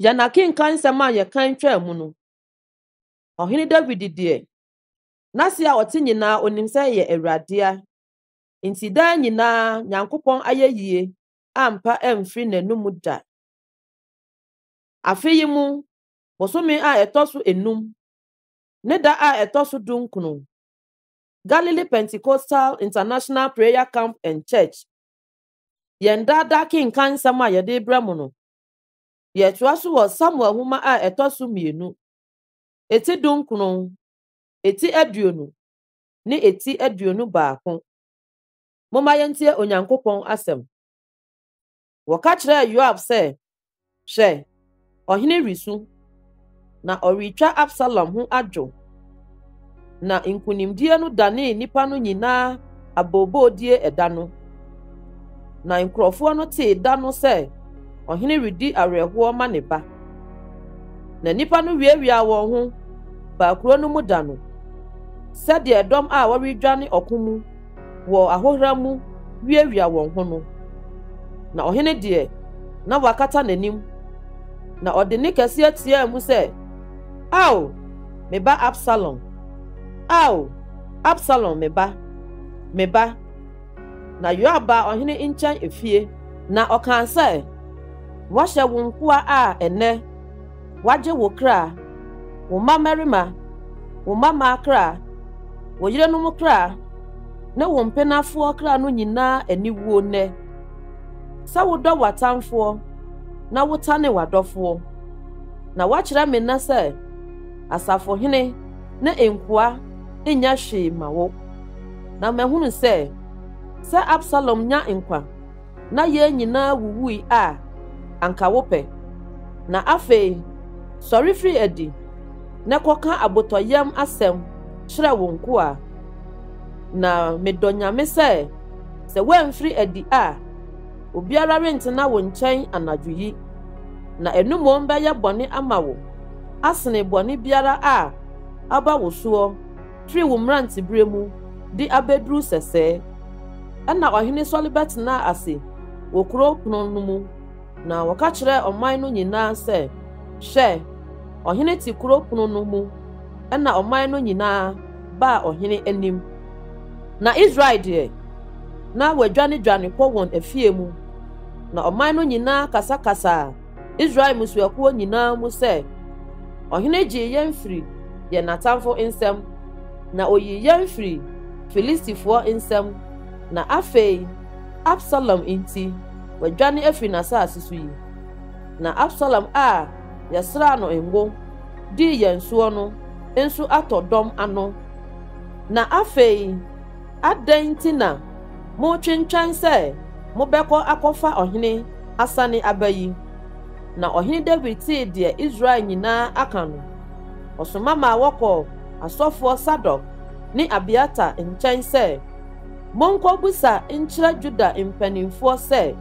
Yɛn akenkan nsɛm a yɛkan twaa mu no, Ɔhene Dawid deɛ, n'ase a ɔte nyinaa onim sɛ ɛyɛ Awuradea, nti daa nyinaa Nyankopɔn ayɛyie ampa amfiri n'anomu da. Afe yi mu bosome a ɛtɔ so enum ne da a ɛtɔ so dunkunu, Galilee Pentecostal International Prayer Camp and Church yɛn daa daa kenkan nsɛm a yɛde rebrɛ mo no. Yɛtoa so wɔ Samuel nhoma a ɛtɔ so mmienu, eti dunkron, eti aduonu, ne eti aduonu baako. Momma yɛntie Onyankopɔn asɛm. Wɔka kyerɛɛ Yoab sɛ Hwɛ, ɔhene resu, na ɔretwa Absalom ho adwo. Na nkonimdie no danee nnipa no nyinaa aboobodie ɛda no. Na nkurɔfoɔ no tee da no sɛ ɔhene redi awerɛhoɔ ma ne ba. Na nnipa no wiawiaa wɔn ho baa kuro no mu da no, sɛdeɛ dɔm a wɔredwane ɔko mu wɔ ahohora mu wiawia wɔn ho no. Na ɔhene deɛ, na wakata n'anim, na ɔde ne kɛseɛ teaa mu sɛ, Ao, me ba Absalom! Ao, Absalom me ba, me ba! Na Yoab baa ɔhene nkyɛn efie. Na ɔkaa sɛ, Wɔahyɛ wo nkoa a ɛnnɛ Woagye wo kra, wo mma mmarima, wo mma mmaa kra, wo yerenom kra, ne wo mpenafoɔ kra no nyinaa aniwuo nnɛ, sɛ wodɔ w'atamfoɔ na wotane w'adɔfoɔ. Na woakyerɛ me nnɛ sɛ asafohene ne nkoa nyɛ hwee ma wo. Na mahunu sɛ, sɛ Absalom nya nkwa, na yɛn nyinaa wuwui a, anka wopɛ. Na afei, sɔre firi adi na kɔka abotɔyam asɛm kyerɛ wo nkoa. Na medɔ Nyame sɛ, sɛ woamfiri adi a, obiara rentena wo nkyɛn anadwo yi, na ɛno mmom bɛyɛ bɔne ama wo asene bɔne biara a aba wo soɔ. firi wo mmeranteberɛ mu de abɛduru sɛsɛ. Ɛnna ɔhene sɔre bɛtenaa ase wɔ kuro pono no mu, na wɔka kyerɛɛ ɔman no nyinaa sɛ, Hwɛ! Ɔhene te kuro pono no mu. Ɛnna ɔman no nyinaa baa ɔhene anim. Na Israel deɛ, na wɔadwanedwane kɔ wɔn afie mu, na ɔman no nyinaa kasakasaa Israel mmusuakuo nyinaa mu sɛ, Ɔhene gyee yɛn firii yɛn atamfo nsam, na ɔyii yɛn firii Filistifoɔ nsam, na afei Absalom nti, wadwane afiri n'asase so yi. Na Absalom a yɛsraa no ngo dii yɛn soɔ no nso atɔ dɔm ano, na afei Adɛn nti na moretwentwɛn sɛ mobɛkɔ akɔfa ɔhene asane aba yi? Na Ɔhene Dawid tee deɛ Israel nyinaa aka no, ɔsoma maa wɔkɔɔ asɔfoɔ Sadok ne Abiatar nkyɛn sɛ, Monkɔbisa nkyerɛ Yuda mpanimfoɔ sɛ,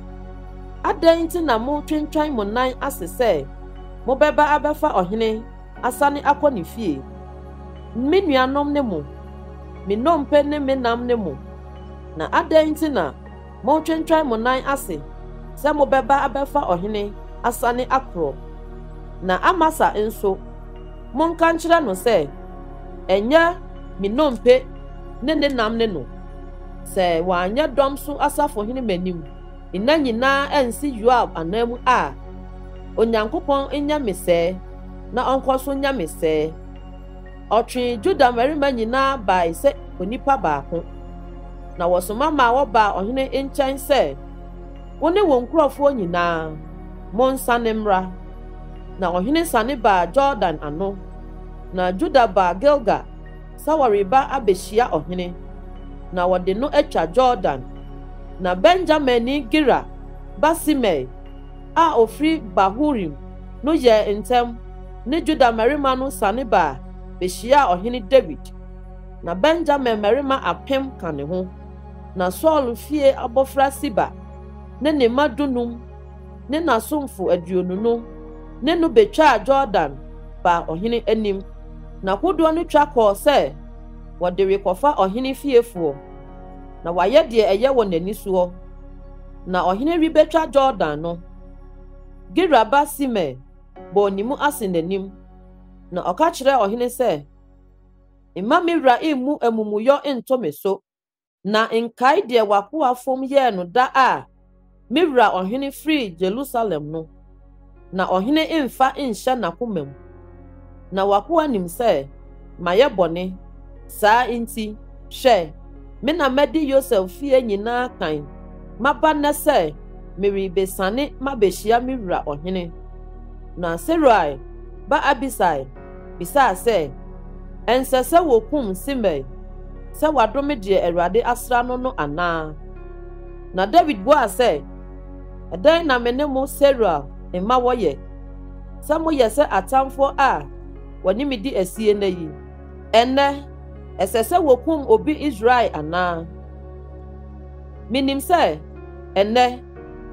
'Adɛn nti na moretwentwɛn mo nan ase sɛ mobɛba abɛfa ɔhene asane akɔ ne fie. Me nuanom ne mo, me nnompe ne me nam ne mo, na adɛn nti na moretwentwɛn mo nan ase sɛ mobɛba abɛfa ɔhene asane akorɔ? Na Amasa nso, monka nkyerɛ no sɛ, 'Ɛnyɛ me nnompe ne ne nam ne no. Sɛ wanyɛ dɔm so asafohene m'anim nna nyinaa ansi Yoab ananmu a, Onyankopɔn nyɛ me sɛɛ. na ɔnkɔsom nyame sɛɛ. Ɔtwee Juda mmarima nyinaa bae sɛ onipa baako, na wɔsoma maa wɔbaa ɔhene nkyɛn sɛ, Wo ne wo nkurɔfoɔ nyinaa, monsane mmra. Na ɔhene sane baa Yordan ano, na Juda baa Gilga sɛ wɔreba abehyia ɔhene, na wɔde no atwa Yordan. Na Benyaminni Gera ba Simei a ɔfiri Bahurim no yɛɛ ntɛm ne Yuda mmarima no sane baa bɛhyiaa Ɔhene Dawid. Ná Benyamin mmarima apem ka ne ho. Ná Saul fie abɔfra Siba ne ne mma dunum ne n'asomfo aduonu no ne no bɛtwaa Yordan baa ɔhene anim. Ná kodoɔ no twa kɔɔ sɛ wɔde rekɔfa ɔhene fiefoɔ, na wɔayɛ deɛ ɛyɛ wɔn ani soɔ. Na ɔhene rebɛtwa Yordan no, Gera ba Simei bɔɔ ne mu ase n'anim, na ɔka kyerɛɛ ɔhene sɛ, Mma me wura mmu amumuyɔ nto me so, na nkae deɛ w'akoa fam yɛɛ no da a me wura ɔhene firii Yerusalem no. na ɔhene mfa nhyɛ n'akoma mu. Na w'akoa nim sɛ mayɛ bɔne, saa nti, hwɛ, me na madi Yosef fie nyinaa kan, maba nnɛ sɛ merebesiane mabehyia me wura ɔhene. Na Seruia ba Abisai bisaa sɛ, Ɛnsɛ sɛ wokum Simei sɛ wadome deɛ Awurade asra no no anaa? Na Dawid buaa sɛ, Ɛdɛn na me ne mo Seruiel mma wɔyɛ, sɛ moyɛ sɛ atamfoɔ a wɔne me di asie nnɛ yi? Ɛnnɛ, ɛsɛ sɛ wɔkum obi Israel anaa? Menim sɛ ɛnnɛ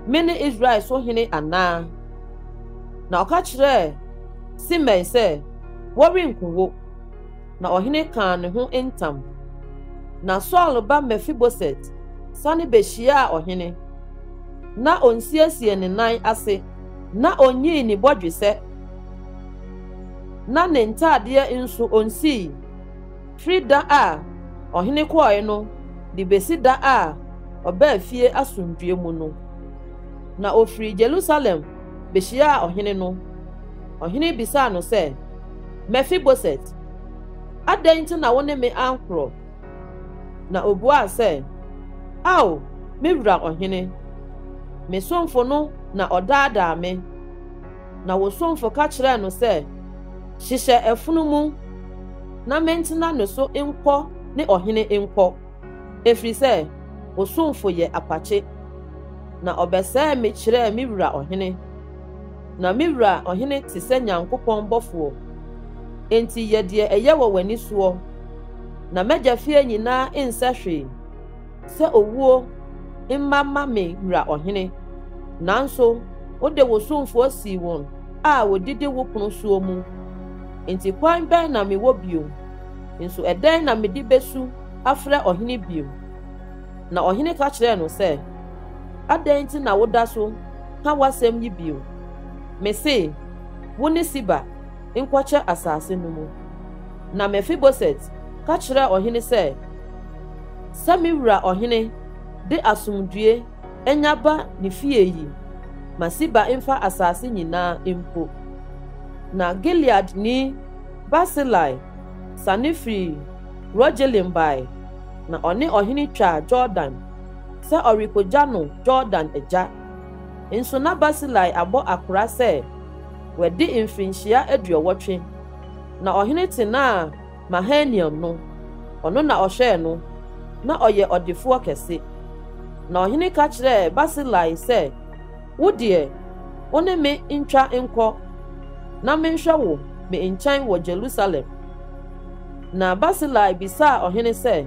mene Israel so hene anaa? Na ɔka kyerɛɛ Simei sɛ, Wɔrenku wo. na ɔhene kaa ne ho ntam. Na Saul ba Mefiboset sane behyiaa ɔhene. Ná onsiesiee ne nan ase, na onyii ne bɔdwesɛ, na ne ntaadeɛ nso onsii, firi da a ɔhene kɔɔe no de besi da a ɔbaa fie asomdwoe mu no. Na ofirii Yerusalem behyiaa ɔhene no. Ɔhene bisaa no sɛ. Mefiboset, adɛn nti na wo ne me ankorɔ? Na ɔbuaa sɛ, Ao, me wura ɔhene, me somfo no na ɔdaadaa me, na wo somfo ka kyerɛɛ no sɛ, 'Hyehyɛ afunumu na mentena ne so nkɔ ne ɔhene nkɔ, ɛfiri sɛ wo somfo yɛ apakye, na ɔbɛsɛee me kyerɛɛ me wura ɔhene. Na me wura ɔhene te sɛ Nyankopɔn bɔfoɔ, enti yɛ deɛ ɛyɛ wɔ w'ani soɔ, na m'agya fie nyinaa nsɛ hwee sɛ owuo mma ma me wura ɔhene. Nanso wode wo somfoɔ sii wɔn a wɔdidi wo pono soɔ mu, enti kwan bɛn na mewɔ bio? Nso ɛdɛn na mede bɛsu afrɛ ɔhene bio? Na ɔhene ka kyerɛɛ no sɛ. Adɛn nti na woda so ka w'asɛm yi bio? Mise, Wo ne Siba nkɔkyɛ asase no mu. Na Mefiboset ka kyerɛɛ ɔhene sɛ, Sɛ me wura ɔhene de asomdwoe nya ba ne fie yi, ma Siba mfa asase nyinaa mpo. Na Gileadni Barsilai sane firii Rogelim bae, na ɔne ɔhene twaa Yordan sɛ ɔrekogya no Jordan agya. Nso na Barsilai abɔ akora sɛ wadi mfirinhyia aduɔwɔtwe, na ɔhene tenaa Mahanaim no, ɔno na ɔhwɛɛ no, na ɔyɛ ɔdefoɔ kɛse. Na ɔhene ka kyerɛɛ Barsilai sɛ, Wo deɛ, wo ne me ntwa nkɔ, na menhwɛ wo me nkyɛn wɔ Jerusalem. Na Barsilai bisaa ɔhene sɛ,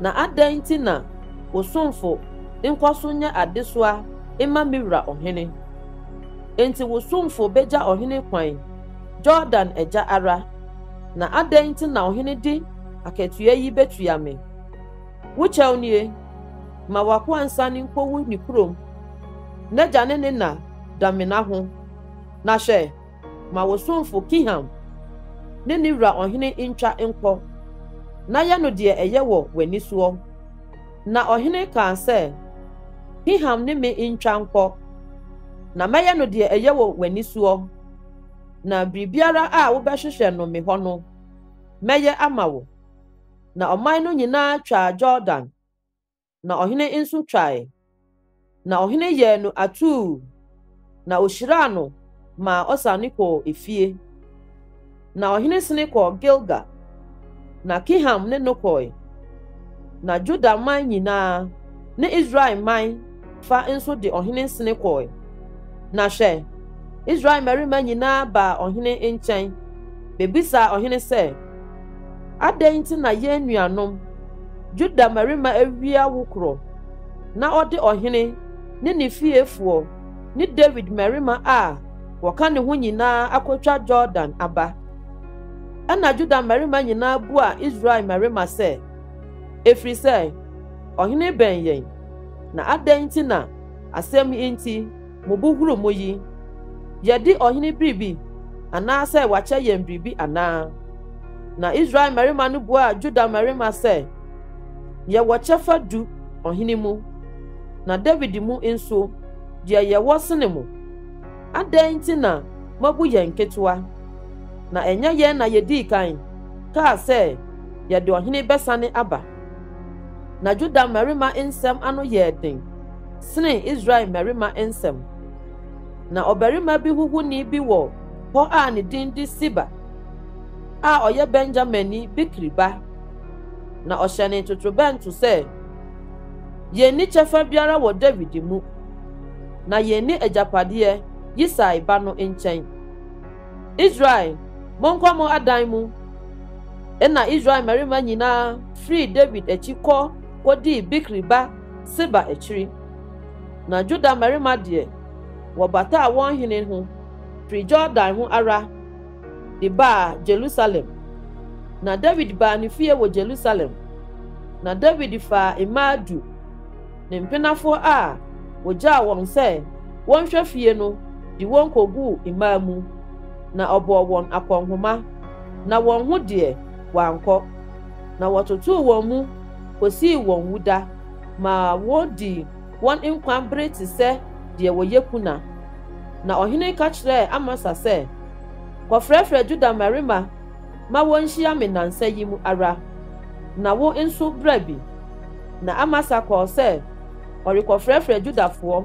Na adɛn nti na wo somfo nkɔ so nyɛ adesoa mma me wura ɔhene? Enti wo somfo begya ɔhene kwan, Yordan agya ara. Na adɛn nti na ɔhene de akatua yi betua me? Wo kyɛw nie, ma w'akoa nsan nkowu ne kurom, n'agya ne ne na da mena ho. Na hwɛ! Ma wo somfo Kiham ne ne wura ɔhene ntwa nkɔ, na yɛ no deɛ ɛyɛ wɔ w'ani soɔ. Na ɔhene kaa sɛ, Kiham ne me ntwa nkɔ, na mɛyɛ no deɛ ɛyɛ wɔ w'ani soɔ, na biribiara a wobɛhwehwɛ no me hɔ no, mɛyɛ ama wo. Na ɔman no nyinaa twaa Yordan. na ɔhene nso twae. Na ɔhene yɛɛ no atuu, na ohyiraa no maa ɔsane kɔɔ efie. Na ɔhene sene kɔɔ Gilga, na Kiham ne no kɔe. Na Juda man nyinaa ne Israel man fa nso de ɔhene sene kɔe. Na hwɛ, Israel mmarima nyinaa baa ɔhene nkyɛn bebisaa ɔhene sɛ, Adɛn nti na yɛn nuanom Yuda mmarima awie awokorɔ, na ɔde ɔhene ne ne fiefoɔ ne Dawid mmarima a wɔka ne ho nyinaa akɔtwa Yordan aba? Ɛnna Yuda mmarima nyinaa buaa Israel mmarima sɛ, Ɛfiri sɛ ɔhene bɛn yɛn, na adɛn nti na asɛm yi nti? Mubuhuru mo yi, yɛadi ɔhene biribi anaasɛ wakyɛ yɛn biribi anaa? Na Israel mmarima no buaa Juda mmarima sɛ, Yɛwɔ kyɛfa du ɔhene mu, na Dawid mu nso, deɛ yɛwɔ sene mo. Adɛn nti na moabu yɛn nketewa? Na ɛnyɛ yɛn na yɛdii kan kaa sɛ yɛde ɔhene bɛsane aba. Na Juda mmarima nsɛm ano yɛɛ den. senee Israel mmarima nsam. Ná ɔbarima bi huhuni bi wɔ hɔ a ne din de Siba a ɔyɛ Benyaminni Bikri ba. Na ɔhyɛnee totorobɛnto sɛ, Yenni kyɛfa biara wɔ Dawid mu, na yenni agyapadeɛ Yisai ba no nkyɛn. Israel, monkɔ mo adan mu! Ɛnna Israel mmarima nyinaa firii Dawid akyi kɔ kodii Bikri ba Seba akyiri. Na Juda mmarima deɛ, wɔbataa wɔn hene ho firi Yordan ho ara de baa Yerusalem. Na Dawid baa ne fie wɔ Yerusalem, na Dawid faa mmaa du, ne mpenafoɔ a wɔgyaa wɔn sɛ wɔnhwɛ fie no de wɔn kɔguu mmaa mu, na ɔbɔɔ wɔn akɔnhoma, na wɔn ho deɛ, wɔankɔ, na wɔtotoo wɔn mu kosii wɔn wuda ma wodii wɔn nkwa bere te sɛ deɛ wɔyɛ kuna. Na ɔhene ka kyerɛɛ Amasa sɛ, Kɔfrɛfrɛ Yuda mmarima ma wɔnhyia me nnansa yi mu ara, na wo nso bra bi. Na Amasa kɔɔ sɛ ɔrekɔfrɛfrɛ Yudafoɔ,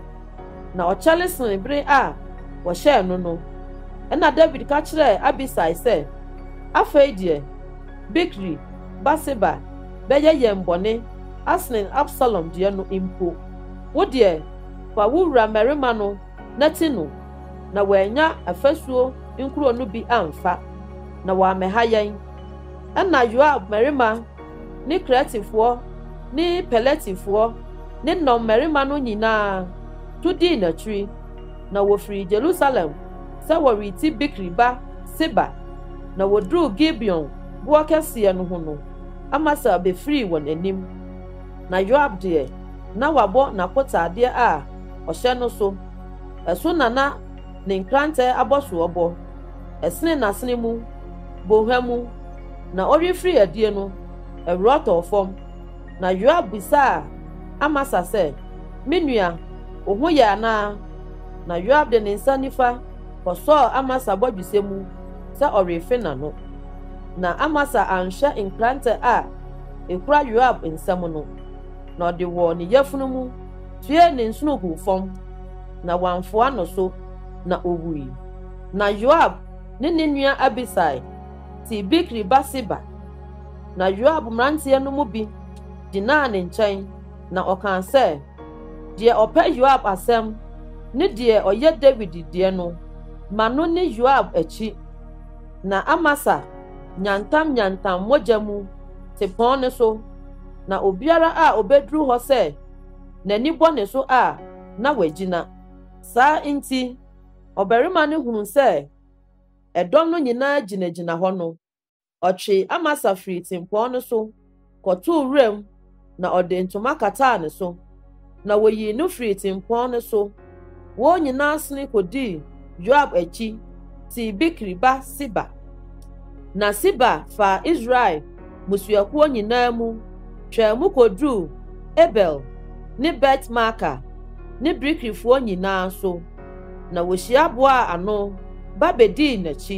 na ɔkyɛre sene bere a wɔhyɛɛ no no. Ɛnna Dawid ka kyerɛɛ Abisai sɛ, Afei deɛ, Bikri, Batseba, bɛyɛ yɛn bɔne asene Absalom deɛ no mpo. Wo deɛ, fa wo wura mmarima no na ti no, na wɔannya afasuo nkuro no bi amfa, na wɔammɛha yɛn. Ɛnna Yoab mmarima ne Keretifoɔ ne Peletifoɔ ne nnɔmmarima no nyinaa tu dii n'akyiri. na wɔfirii Jerusalem sɛ wɔreti Bikri ba Seba, na wɔduruu Gibeon boɔ kɛseɛ no ho no, Amasa bɛfirii wɔn anim. Na Yoab deɛ, na wabɔ n'akotaadeɛ a ɔhyɛ no so, ɛso na na ne nkrantɛ abɔsoɔ bɔ, ɛsene n'asene mu, bɔnhwa mu, na ɔrefiri adie no, ɛwoɔ tɔɔ fam. Na Yoab bisaa Amasa sɛ, Me nua, wo ho yɛ anaa? Na Yoab de ne nsa nifa kɔsɔɔ Amasa bɔdwesɛ mu sɛ ɔrefe n'ano. Na Amasa anhwɛ nkrantɛ a ekura Yoab nsam no, na ɔde wɔ ne yafunu mu tuee ne nsono guu fam, na wamfoa no so, na owui. Na Yoab ne ne nua Abisai te Bikri ba Seba. Na Yoab mmeranteɛ no mu bi gyinaa ne nkyɛn, na ɔkaa sɛ, Deɛ ɔpɛ Yoab asɛm ne deɛ ɔyɛ Dawid deɛ no, ma no ne Yoab akyi. Na Amasa nyantamnyantam mogya mu te pɔn no so, na obiara a ɔbɛduru hɔ sɛ n'ani bɔ ne so a, na wagyina. Saa nti, ɔbarima no hunuu sɛ ɛdɔm no nyinaa gyinagyina hɔ no, Ɔtwee Amasa firii tempɔn no so kɔtoo wuram na ɔde ntoma kataa ne so, na woyii no firii tempɔn no so. Wɔn nyinaa sene kodii Yoab akyi tii Bikri ba Siba. Na Siba faa Israel mmusuakuo nyinaa mu twaa mu kɔduruu Abel ne Bet-Maaka ne Bikrifoɔ nyinaa so. na wohyia boaa ano ba bedii n'akyi,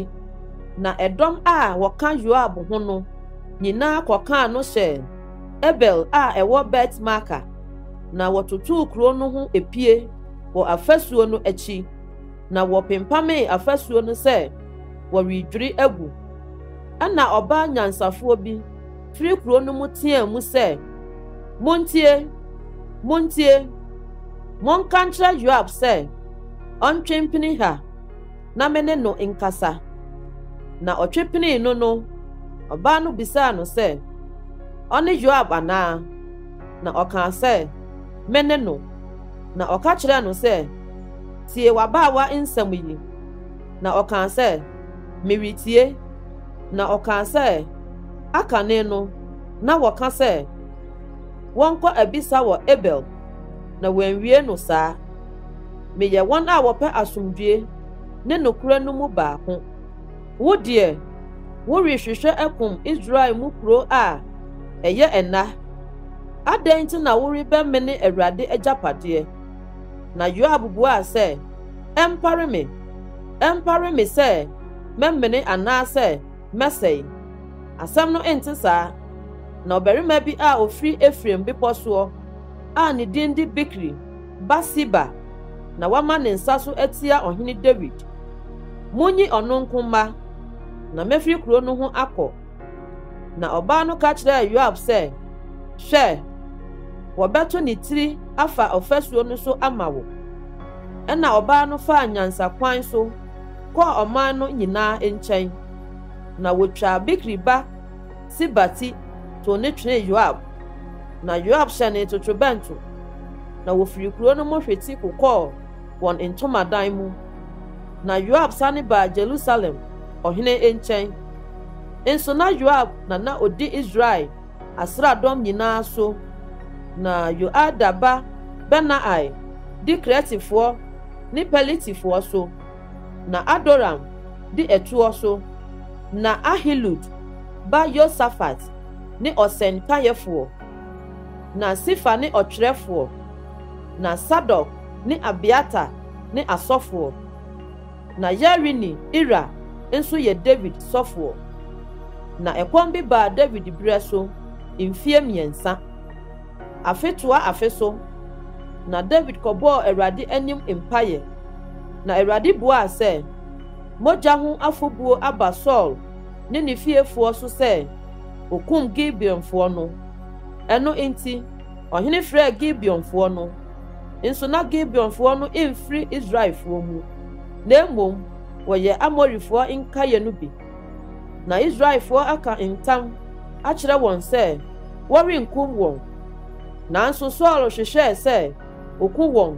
na ɛdɔm a wɔka Yoab ho no nyinaa kɔkaa no hyɛɛ Abel a ɛwɔ Bet-Maaka, na wɔtotoo kurow no ho apue wɔ afasuo no akyi, na wɔpempamee afasuo no sɛ wɔredwiri agu. Ɛnna ɔbaa nyansafoɔ bi firi kuro no mu teaa mu sɛ, Montie! Montie! Monka nkyerɛ Yoab sɛ ɔntwe mpene ha na me ne no nkasa. Na ɔtwe penee no no, ɔbaa no bisaa no sɛ, Ɔne Yoab anaa? Na ɔkaa sɛ, Me ne no. Na ɔka kyerɛɛ no sɛ, Tie w'abaawa nsɛm yi. Na ɔkaa sɛ, Meretie. Na ɔkaa sɛ, Akane no, na wɔka sɛ wɔnkɔ abisa wɔ Abel, na wɔanwie no saa. Meyɛ wɔn a wɔpɛ asomdwoe ne nokorɛ no mu baako. Wo deɛ, worehwehwɛ akum Israel mu kuro a ɛyɛ nna. Adɛn nti na worebɛmene Awurade agyapadeɛ? Na Yoab buaa sɛ, Ɛmpare me, ɛmpare me sɛ mɛmene anaasɛ mɛsɛe? Asɛm no nte saa. Na ɔbarima bi a ofiri Efraim bepɔ soɔ a ne din de Bikri ba Siba na wama ne nsa so atia Ɔhene Dawid. Monyi ɔno nko mma, na mɛfiri kuro no ho akɔ. Na ɔbaa no ka kyerɛɛ Yoab sɛ, Hwɛ! Wɔbɛto ne tiri afa ɔfasuo no so ama wo. Ɛnna ɔbaa no faa nyansakwan so kɔɔ ɔman no nyinaa nkyɛn, na wotwaa Bikri ba Siba ti tow no twenee Yoab, na Yoab hyɛnee totorobɛnto, na wofii kurow no mu hwete kokɔɔ wɔn ntomadan mu. Na Yoab sane baa Yerusalem ɔhene nkyɛn, nso na Yoab na na odi Israel asraadɔm nyinaa so, na Yoiada ba Benaia di Keretifoɔ ne Peletifoɔ so, na Adoram di ɛtoɔ so, na Ahilud ba Yosafat ne ɔsɛn kaeɛfoɔ, na Sifa ne ɔtwerɛfoɔ, na Sadok ne Abiatar ne asɔfoɔ. Na Yarini Ira nso yɛ Dawid sɔfoɔ. Na ɛkɔm bi baa Dawid berɛ so mfeɛ mmiɛnsa, afe toa afe so, na Dawid kɔbɔɔ Awurade anim mpaeɛ, na Awurade buaa sɛ, Mogya ho afɔbuo aba Saul ne ne fiefoɔ so sɛ ɔkum Gibeonfoɔ no. Ɛno nti, ɔhene frɛɛ Gibeonfoɔ no. nso na Gibeonfoɔ no mfiri Israelfoɔ mu, na mmom wɔyɛ Amorifoɔ nkaeɛ no bi. Na Israelfoɔ aka ntam akyerɛ wɔn sɛ wɔrenkum wɔn. Nanso Saul hwehwɛɛ sɛ ɔku wɔn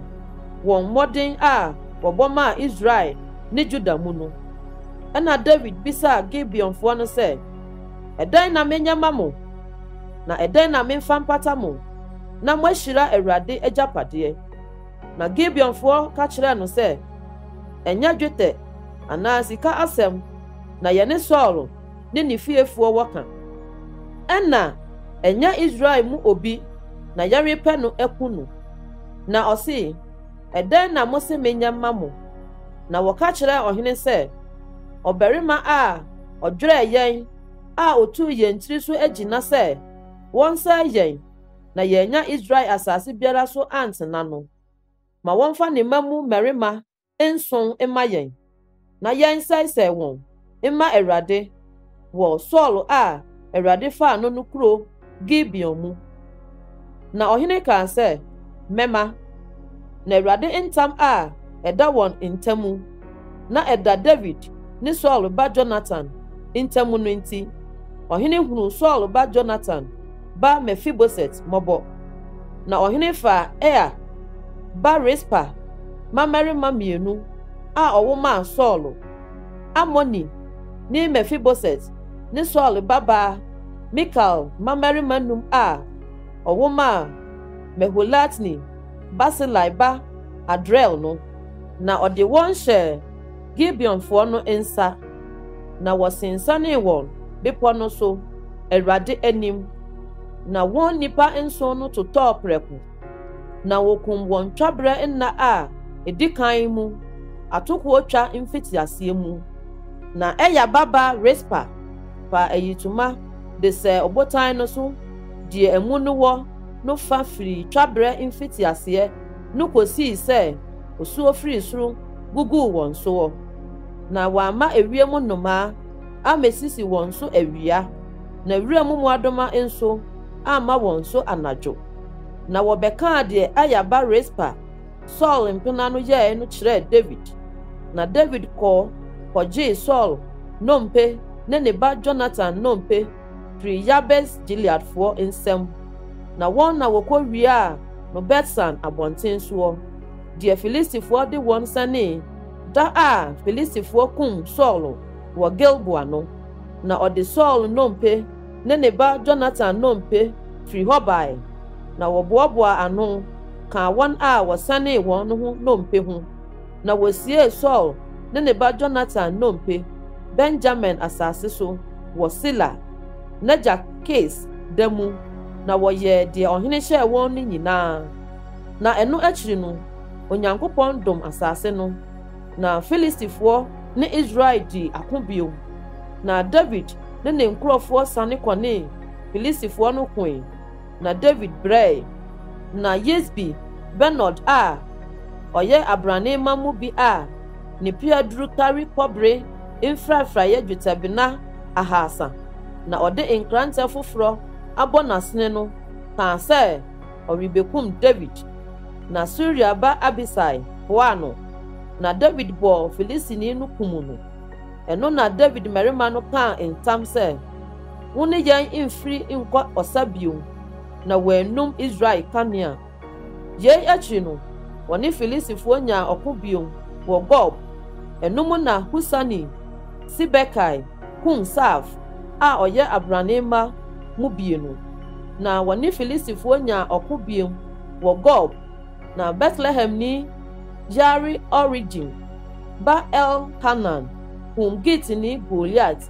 wɔ mmɔden a wɔbɔ maa Israel ne Juda mu no. Ɛnna Dawid bisaa Gibeonfoɔ no sɛ, Ɛdɛn na menyɛ ma mo? Na ɛdɛn na memfa mpata mo? na moahyira Awurade agyapadeɛ. Na Gibeonfoɔ ka kyerɛɛ no sɛ, Ɛnyɛ dwetɛ anaa sika asɛm na yɛne Saulo ne ne fiefoɔ wɔ ka. Ɛnna ɛnyɛ Israel mu obi na yɛrepɛ no aku no. Na ɔsee, Ɛdɛn na mose menyɛ mma mo? Na wɔka kyerɛɛ ɔhene sɛ, Ɔbarima a ɔdwerɛɛ yɛn a ɔtuu yɛn tiri so agyina sɛ wɔnsɛe yɛn na yɛannya Israel asase biara so antena no, ma wɔmfa ne mma mu mmarima nson mma yɛn, na yɛnsɛesɛe wɔn mma Awurade wɔ Saulo a Awurade faa no no kurow Gibeon mu. Na ɔhene kaa sɛ, Mɛma, na Awurade ntam a ɛda wɔn ntam na ɛda Dawid ne Saulo ba Yonatan ntam no nti, ɔhene hunuu Saulo ba Yonatan ba Mefiboset mmɔbɔ. Na ɔhene faa Aia ba Rispa mmammarima mmienu a ɔwo maa Saulo, Amonni ne Mefiboset ne Saulo babaa Mikal mmammarima nnum a ɔwo maa Meholatni Barsilai ba Adriel no. na ɔde wɔn hyɛɛ Gibeonfoɔ no nsa, na wɔsensanee wɔn bepɔ no so Awurade anim, na wɔn nnipa nson no totɔɔ prɛko, na wɔkum wɔn twaberɛ nna a ɛdi kan mu atokoɔ twa mfitiaseɛ mu. Na Aya baba Rispa faa ayitoma de sɛɛ ɔbotan no so deɛ amu no wɔ no fa firii twaberɛ mfitiaseɛ no kosii sɛ osuo firii soro guguu wɔn soɔ, na wamma ewiem nnomaa ammɛsisi wɔn so awia, na wuram mmoadoma nso amma wɔn so anadwo. Na wɔbɛkaa deɛ Aya ba Rispa, Saul mpena no yɛeɛ no kyerɛɛ Dawid. Na Dawid kɔɔ kɔgyee Saul nnompe ne ne ba Yonatan nnompe firii Yabes-Gileadfoɔ nsam, na wɔn na wɔkɔwiaa no Bet-San abɔnten soɔ, deɛ Filistifoɔ de wɔn sanee da a Filistifoɔ kum Saulo wɔ Gilboa no, na ɔde Saulo nnompe ne ne ba Yonatan nnompe firii hɔ baeɛ, na wɔboaboaa ano kaa wɔn a wɔsanee wɔn no ho nnompe ho. Na wosiee Saul ne ne ba Jonatan nnompe Benyamin asase so wɔ Sela, n'agya Kis da mu, na wɔyɛɛ deɛ ɔhene hyɛɛ wɔn no nyinaa. Na ɛno akyiri no, Onyankopɔn dom asase no, na Filistifoɔ ne Israel dii ako bio. Na Dawid ne ne nkurɔfoɔ sane kɔnee Filistifoɔ no koe. Na David brɛe, na Yisbi-Benob a ɔyɛ abrane mma mu bi a ne pea duru kari kɔbere mfrafraeɛ dwetɛbena ahaasa, na ɔde nkrantɛ foforɔ abɔ n'asene no kaa sɛ ɔrebɛkum Dawid. Na Seruia ba Abisai boaa no, na Dawid bɔɔ Filistini no kum no. Ɛno na Dawid mmarima no kaa ntam sɛ. Wo ne yɛn mfiri nkɔ ɔsa bio, na wɔanum Israel kanea. Yei akyiri no, wɔne Filistifoɔ nyaa ɔko bio wɔ Gob. Ɛno mu na Husani Sibekai kum Saaf a ɔyɛ abrane mma mu bienu. Na wɔne Filistifoɔ nyaa ɔko bio wɔ Gob, na Betlehemni Yaare-Oregim ba Elhanan kum Gitni Goliat.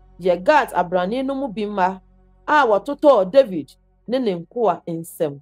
yɛ Gat abrane no mu bi mma a wɔtotɔɔ Dawid ne ne nkoa nsam.